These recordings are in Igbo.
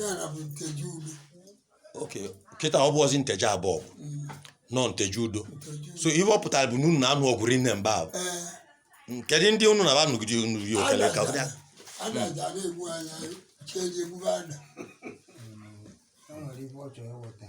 ya na bụ nteje udo okay kịta ọ bụrọzi nteje abọgụ Mm, na ọ nteje udo nteje udo so ihe ọ pụtara bụ na unu na-anụ ọgụ rinne mgbe ahụ ee kedụ ndị unu na fa nụgide unu ri okele ka ọbụla adaja na-egbu anya cheji egbube ada o nwere ife ọ chọrọ ịghọta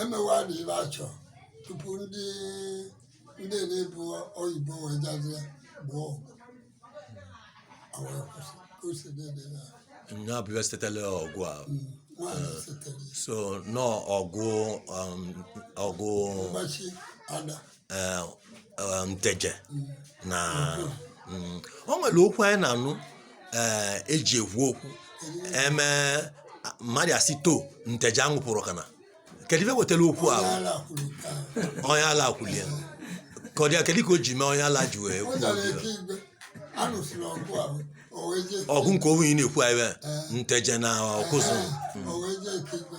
emewe a na ibe achọ tupu ndị ndị na-ebu oyibo wee jazia gboo ọgụ a wee kwụsị ka o si na-ede ya nya bụ ife setere ọgụ a nwaanyị setere so na ọ ọgụ um, ọgụ mgbachi ada eh, eh, nteje na mm, o nwere okwu anyị na-anụ eh, eji ekwu okwu eme mmadụ asị to nteje aṅụpụrụ kana kedu ife wetara okwu ahụ Ala kwuru nke ahụ. onye ala kwulie ka ọ dị ya kedu ka o ji mee onye ala ji wee O kwuo zara obi ya? ike igwe. A lụsịrị ọgụ ahụ. O wee jee. ọgụ nke a nwa ị na-ekwu anyị bụ nteje na ọkụzụ O wee jee ike igwe.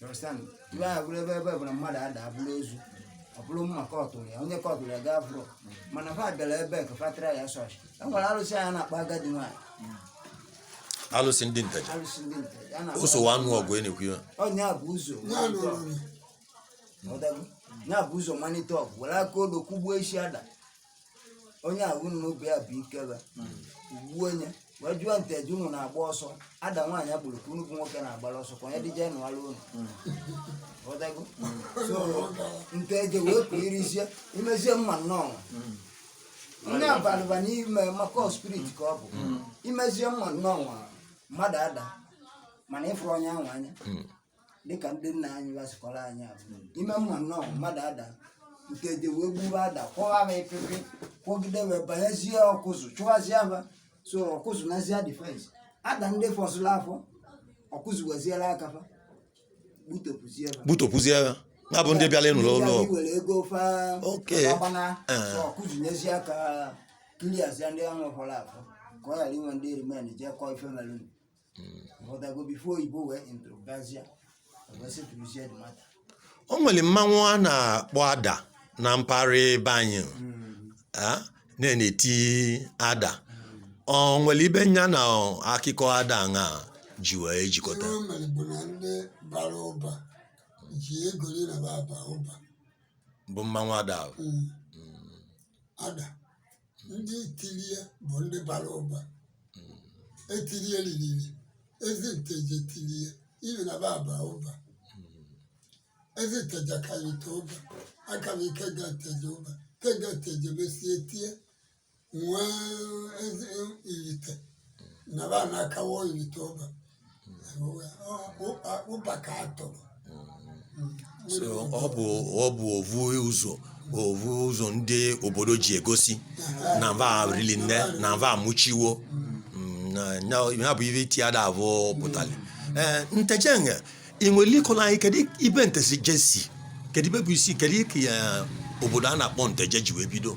You understand? ife ahụ bụrụ ebe ebe bụ na mmadụ adaa bụrụ ozu ọ bụrụ mma kọtụrụ ya onye kọtụrụ ya gaa fụrụ mana fa bịara ebe nke fatara ya so e nwere arụsị anyị na-akpọ agadi nwaanyị alụsị ndị nteje arụsị ndị nteje na-akpọ o sowe anụ ọgụ ị na-ekwu ya onye a bu ụzọ malite ọgụ. Ghọtago? ya bu ụzọ malite ọgụ were aka odo kụgbuo isi ada onye ahụ nụ mgbe ahụ bụ ikebe ugbu onye wee jụọ nteje unu na-agba ọsọ ada nwaanyị a gburu ka unu bụ nwoke na-agbara ọsọ ka onye dịje nụwara unu Ghọtago? so nteje wee pụ irizie imezie mma nnọọ nne abalịba n'ime maka spirit ka ọ bụ imezie mma nnọọ mmadụ adaa mana ị fụrọ onye ahụ anya dịka ndị nna anyị fa si kọọrọ anyị ọ bụ ime mma nnọọ mmadụ adaa nke e ji wee gbuwa ada kwọwa ha ịpịpị kwọgide wee banyezie ọkụzụ chụwazie ha so ọkụzụ nazia defence ada ndị fọsịrị afọ ọkụzụ wezili aka fa gbutopụzie ha gbutopụzie ha na bụ ndị bịara ịnụrụ ọgụ Ndị were ego fa Okay. agbana Eh. so ọkụzụ nyezie aka kiliazia ndị ahụ fọrọ afọ ka ọ ghara inwe ndị remain jee kọọ ife melụnụ o nwere mmanwụ a na-akpọ ada na mpaghara be anyị ah, na-eti ada o nwere ife nya na akụkọ ada a ji wee jikọta ihe o mere bụ na ndị bara ụba ji egosi na fa aba ụba bụ mmanwụ ada ahụ. Mm. ada ndị tiri ya bụ ndị bara ụba etiri ya ririri ezi nteje tiri ya ifi na fa aba ụba ezi nteje aka ifite ụba akawo ikenga nteje ụba ikenga nteje mesie tie wee zi ifite na fa na-akawo ifite ụba ụbaka atụrụ so ọ bụ ọ bụ ovu ụzọ ovu ụzọ ndị obodo ji egosi na va rili nne na va amụchiwo Mm, na- na- ya bụ ive itida abọ pụtali ee nteje nge ị nwere ịkọla anyị kedu ibe nteje si kedu ibe bụ isi kedu ka obodo a na-akpọ nteje ji wee bido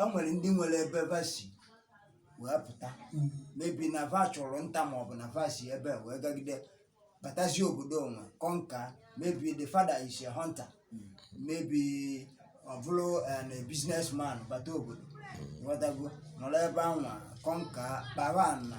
o nwere ndị nwere ebe va si wee pụta maybe na va chụrụ nta ma ọ bụ na va si ebe a wee gagide batazie obodo o wee conquer maybe the father is a hunter maybe ọ bụrụ eh, na business man bata obodo batago nọrọ ebe anwa conquer kpara na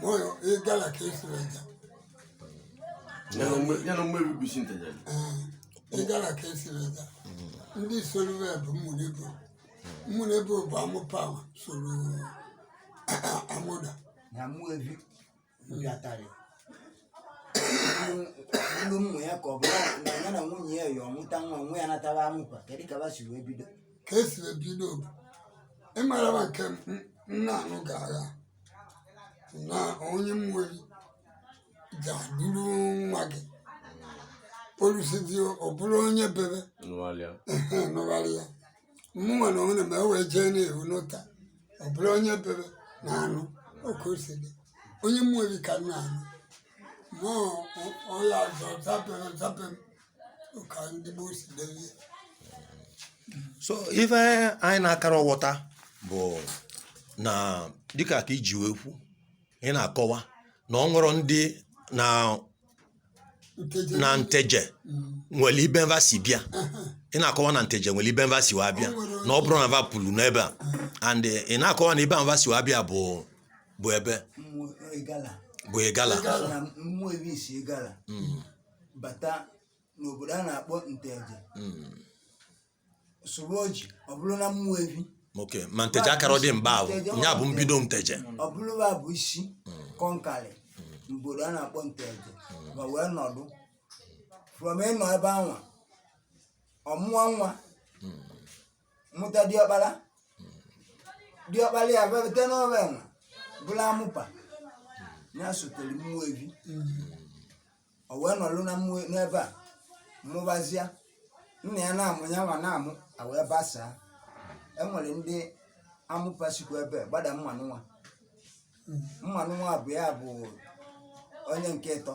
moyo igala kesireja nyana mwe bibisi ntajali igala kesireja ndị soro bụ ụmụnebo ụmụnebo bụ amụpa wee soro amụda na ụmụevi bịatara ilu mmụ ya ka ọ bụ na ya na nwunye ya ya ọ mụta nwa nwa ya natara amụkwa kedu ka va si wee bido ka esi ebido bụ ị mara ma nke a na-anụ agha na onye mmeri ga-adụrụ nwa gị olusizi ọ bụrụ onye bebe nụgharịa ehe, nụgharị ya mụnwa na onwe na ma e wee jee na-ewu n'ụta ọ bụrụ onye bebe na anụ oke o si dị onye mmeri ka a na-anụ ma ọ- ọ- ọ ya zọ zape zape so ive anyị na-akara aghọta bụ na dịka ka i ji wee kwu ị na-akọwa na ọ bụrọ ndị na na nteje mm. nwere ibe va si bịa ị na-akọwa na nteje nwere ibe va si wa bịa na ọ bụrọ na va pulu n'ebe a mm. and ị na-akọwa na ibe va si wa bịa bụ bụ ebe bụ igala bata n'obodo a na-akpọ nteje Mm. sụrụ oji ọ bụrụ na ụmụevi ok ma nteje akarọ dị mgbe ahụ ya bụ mbido nteje ọ bụrụ va bụ isi conquerị obodo a na-akpọ nteje va wee nọdụ from ịnọ ebe anwa ọ mụọ nwa mụta diọkpara diọkpara ya bịa bata n'ebe anwa bụrụ amụpa ya sotere ụmụevi o wee nọlụ na-amụ n'ebe a mụbazịa nna ya na-amụ ya nwa na-amụ a wee basaa e nwere ndị amụpa sikwa ebe a, gbada ụmụanụnwa ụmụanụnwa bụ ya bụ onye nke ịtọ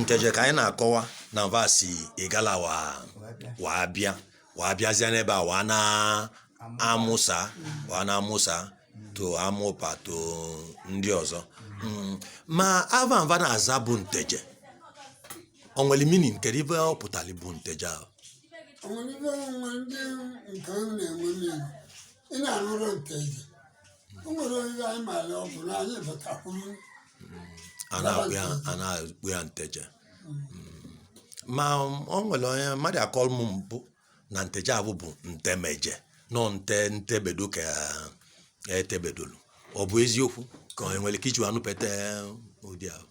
nteje ka anyị na-akọwa na va si igala wa wa abịa wa abịazịa n'ebe a wa na-amụsa wa na-amụsa to amụpa to ndị ọzọ Mm, ma ava mva na-aza bụ nteje o nwere meaning kedu ive ọ pụtara bụ nteje ahụ o nwere ive onwe ndị nke ọ na-enwe n'elu ị na-arụrụ nteje o nwere oriri anyị maara ọ bụrụ anyị batakwuru a na-akpọ ya a na-akpọ ya nteje Mm. ma o nwere onye mmadụ akọrọ m mbụ na nteje avụ bụ ntemeje no nte ntebedo ka e tebedolu ọ bụ eziokwu ka o nwere ka i ji anụpete ụdị ahụ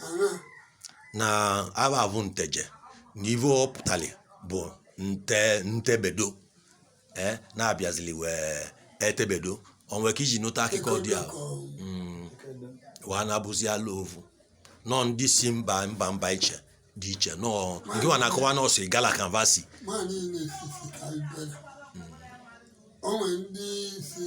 ana na ava bụ nteje na ive ọ pụtara bụ nte ntebedo ee na-abịazili wee etebedo o nwere ka i ji nụta akụkọ dị a Mm, wee na-abụzi ala ovu no ndị si mba mba mba iche dị iche no nke wa na-akọwa na o si igala ka mva si ma niile sisi ka anyị bịara o nwere ndị si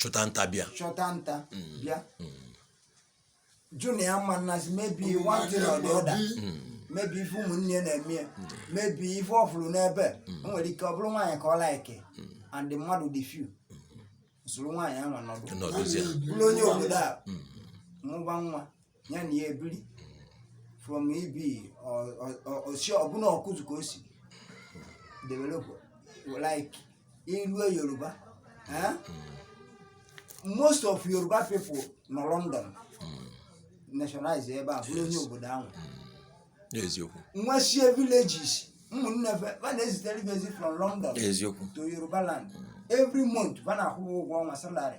chụta nta bịa chụta nta bịa jụ na ọ ma nazi maybe one thing or the other maybe ife ụmụnne ya na-eme ya maybe ife ọ fụrụ n'ebe o nwere ike ọ bụrụ nwaanyị ka ọ like and ndị mmadụ dị few soro nwaanyị ahụ nọdụ nọdụzie bụrụ onye obodo a mụba nwa ya na ya ebiri from ebe o si ọbụla ọkụzụ ka o si develop like i lue yoruba eh? most of yoruba people nọ london nationalize ebe a bụrụ onye obodo ahụ eziokwu nwesie villages ụmụnne fa fa na-ezitere ife ezi from london eziokwu to yoruba land every month fa na-akwụ ụgwọ ọnwa salary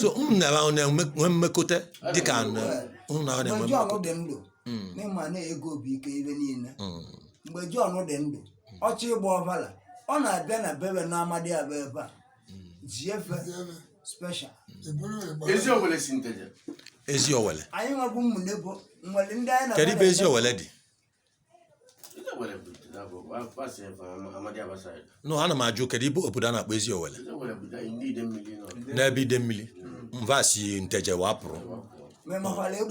so unu na va na-enwe nwee mmekọta dịka na unu na na-enwe mgbe Jọn dị ndụ Mm, na ị ma na ego bụ ike ive niile mm, mgbe Jọn dị ndụ ọchị ịgba ọbara ọ na-abịa na bebe na amadiaba ebe a ji efe special eziowelle si nteje ezi owele anyị nwebụ ụmụnebo nwere ndị anyị na kedu ibe eziowelle dị no ana m ajụ kedu ibe obodo a na-akpọ eziowelle n'ebe idemili mva si nteje wa pụrụ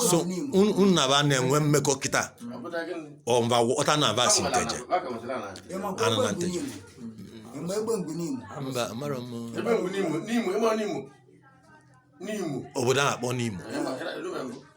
so unu na va na-enwe mmekọ kịta ọ mva wọta na va si nteje ana na nteje mba amarọ m obodo a na-akpọ nimo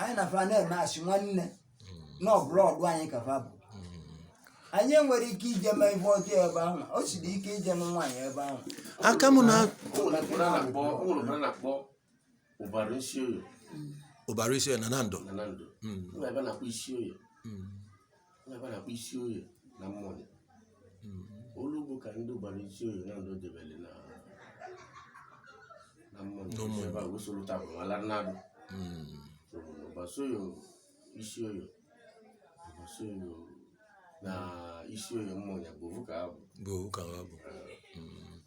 anyị na fa na-eme asị nwanne na ọ bụrọ ọdụ anyị ka fa bụ anyị enwerọ ike ije nụ di ebe ahụ o siri ike ije nụ nwaanyị ebe ahụ aka m na gbara isi oyo gbara isi na na ndụ na na ndụ ebe na-akpọ isi oyo Fa na-akpọ isi oyo na mmụọ ya. Olu bụ ka ndị gbara isi oyo na ndụ debere na na mmụọ ya. N'ụmụ Ebe a wee soro taa bụ ala nnadụ. Mm. So, ọgba isi oyo isi oyo ọgba isi oyo na isi oyo mmụọ ya bụ ofu ka ha bụ.